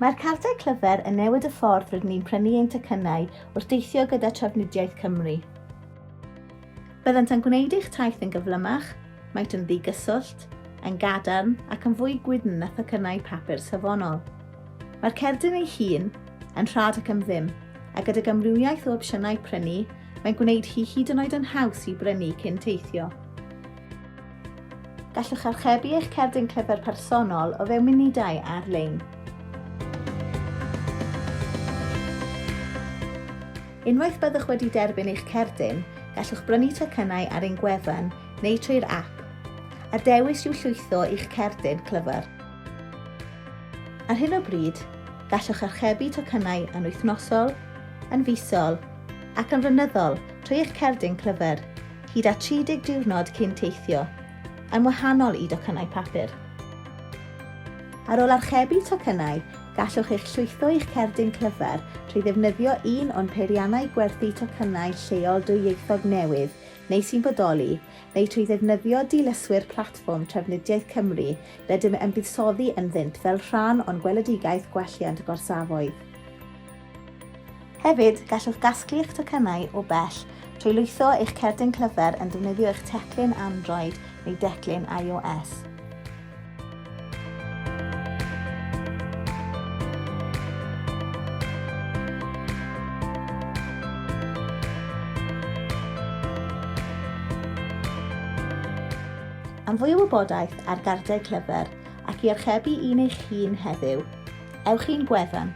Mae'r cardiau clyfr yn newid y ffordd rydyn ni'n prynu ein tocynnau wrth deithio gyda Trafnidiaeth Cymru. Byddant yn gwneud eich taith yn gyflymach, maent yn ddigyswllt, yn gadarn ac yn fwy gwydn na thocynnau papur safonol. Mae'r cerdyn ei hun yn rhad ac am ddim, a gydag amrywiaeth o opsiynau prynu, mae'n gwneud hi hyd yn oed yn haws i brynu cyn teithio. Gallwch archebu eich cerdyn clyfr personol o fewn munudau ar-lein. Unwaith byddwch wedi derbyn eich cerdyn, gallwch brynu tocynnau ar ein gwefan neu trwy'r app, a dewis yw llwytho i'ch cerdyn clyfr. Ar hyn o bryd, gallwch archebu tocynnau yn wythnosol, yn fisol ac yn flynyddol trwy eich cerdyn clyfr. hyd at 30 diwrnod cyn teithio, yn wahanol i docynnau papur. Ar ôl archebu tocynnau, gallwch eich llwytho i'ch cerdyn cyfer trwy ddefnyddio un o'n peiriannau gwerthu tocynnau lleol dwyieithog newydd neu sy'n bodoli, neu trwy ddefnyddio dilyswyr platfform Trafnidiaeth Cymru rydym yn buddsoddi ynddynt fel rhan o'n gweledigaeth gwelliant gorsafoedd. Hefyd, gallwch gasglu eich tocynnau o bell trwy lwytho eich cerdyn clyfr yn defnyddio eich teclyn Android neu declyn iOS. Am fwy o wybodaeth ar gardau clyfr ac i archebu un eich hun heddiw, ewch i'n gwefan